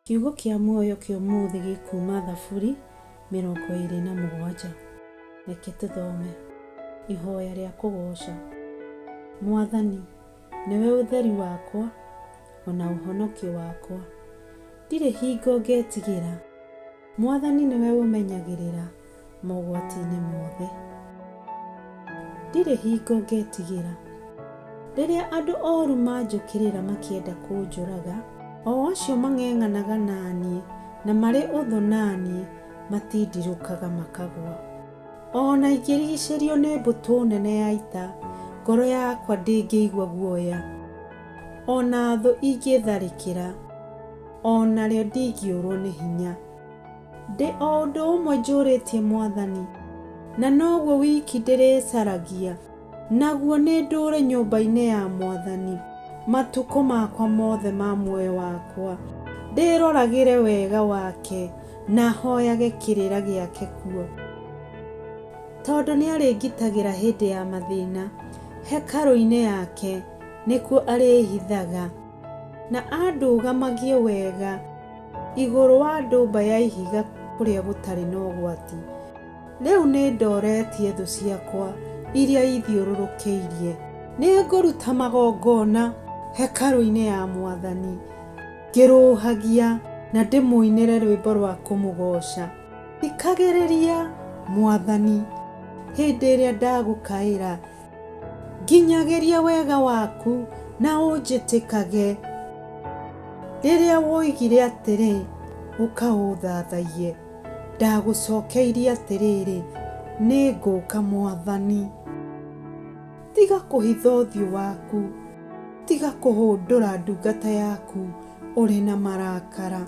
Kiugo kĩa muoyo kĩa ũmũthĩ gĩ kuuma Thaburi mĩrongo ĩĩrĩ na mũgwanja. Reke tũthome. Ihoya rĩa kũgooca. Mwathani, nĩwe ũtheri wakwa, o na ũhonokio wakwa. Ndirĩ hingo ngetigĩra. Mwathani nĩwe ũmenyagĩrĩra mogwati-inĩ mothe. Ndirĩ hingo ngetigĩra. Rĩrĩa andũ ooru manjũkĩrĩra makĩenda kũnjũraga. O acio mang'eng'anaga na niĩ na marĩ ũthũ na niĩ matindirũkaga makagũa. O na ingĩrigicĩrio nĩ mbũtũ nene ya ita, ngoro yakwa ndĩngĩigua guoya. O na thũ ingĩtharĩkĩra. O narĩo ndingĩũrwo nĩ hinya. Ndĩ o ũndũ ũmwe njũrĩtie Mwathani. Na noguo wiki ndĩrĩcaragia. Naguo nĩ ndũũre nyũmba-inĩ ya Mwathani. Matukũ makwa mothe ma muoyo wakwa. Ndĩroragĩre wega wake. Na hoyage kĩrĩra gĩake kuo. Tondũ nĩ arĩngitagĩra hĩndĩ ya mathĩna. Hekarũ-inĩ yake nĩkuo arĩĩhithaga. Na andũgamagie wega igũrũ wa ndũmba ya ihiga kũrĩa gũtarĩ na ũgwati. Rĩu nĩ ndooretie thũ ciakwa iria ithiũrũrũkĩirie. Nĩ ngũruta magongona hekarũ-inĩ ya mwathani ngĩrũũhagia na ndĩmũinĩre rwĩmbo rwa kũmũgooca. Thikagĩrĩria, mwathani, hĩndĩ ĩrĩa ndagũkaĩra, Nginyagĩria wega waku na ũnjĩtĩkage. Rĩrĩa woigire atĩrĩ, Ũkaũthathaiye, ndagũcokeirie atĩrĩrĩ, Nĩngũka Mwathani. Tiga kũhitha ũthiũ waku, tiga kũhũndũra ndungata yaku ũrĩ na marakara.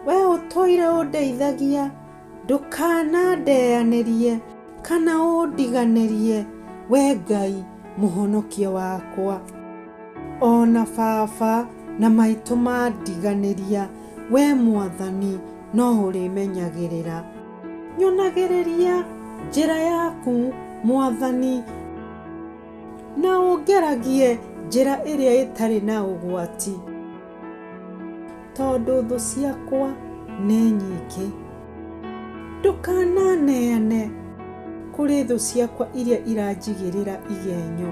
Wee ũtũire ũndeithagia. Ndũkanandeanĩrie kana ũndiganĩrie, wee Ngai Mũhonokia wakwa. O na baba na maitũ mandiganĩria, wee Mwathani no ũrĩmenyagĩrĩra. Nyonagĩrĩria njĩra yaku, Mwathani. Na ũngeragie njĩra ĩrĩa ĩtarĩ na ũgwati. Tondũ thũ ciakwa nĩ nyingĩ. Ndũkananeane kũrĩ thũ ciakwa iria iranjigĩrĩra igenyo,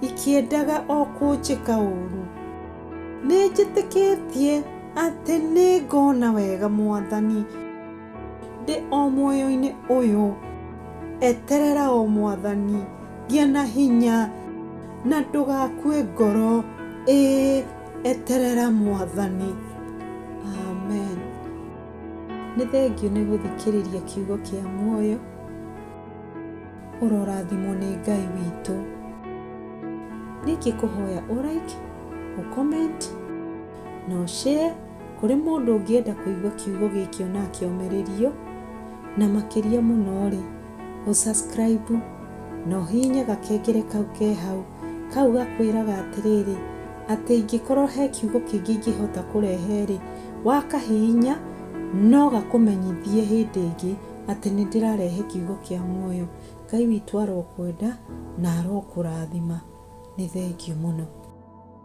ikĩendaga o kũnjĩka ũũru. Nĩnjĩtĩkĩtie atĩ nĩngona wega, Mwathani. Ndĩ o muoyo-inĩ ũyũ. Eterera o Mwathani. Gĩa na hinya. Na ndũgakue ngoro. Ĩĩ eterera Mwathani. Amen. Nĩ thengiũ nĩ gũthikĩrĩria kiugo kĩa muoyo. Ũrorathimwo nĩ Ngai witũ. Ningĩ kũhoya ũraiki, ũcomment, na ũshare. Kũrĩ mũndũ ũngĩenda kũigua kiugo gĩkĩo na akĩomererio, na makĩria mũno-rĩ, ũ subscribe na ũhihinye gakengere kau ke hau, kau gakwĩraga atĩrĩrĩ, atĩ ingĩkorwo he kiugo kĩngĩ ingĩhota kũrehe-rĩ, wakahihinya no gakũmenyithie hĩndĩ ĩngĩ atĩ nĩ ndĩrarehe kiugo kĩa muoyo. Ngai witũ arokwenda na arokũrathima. Nĩ thengiũ mũno.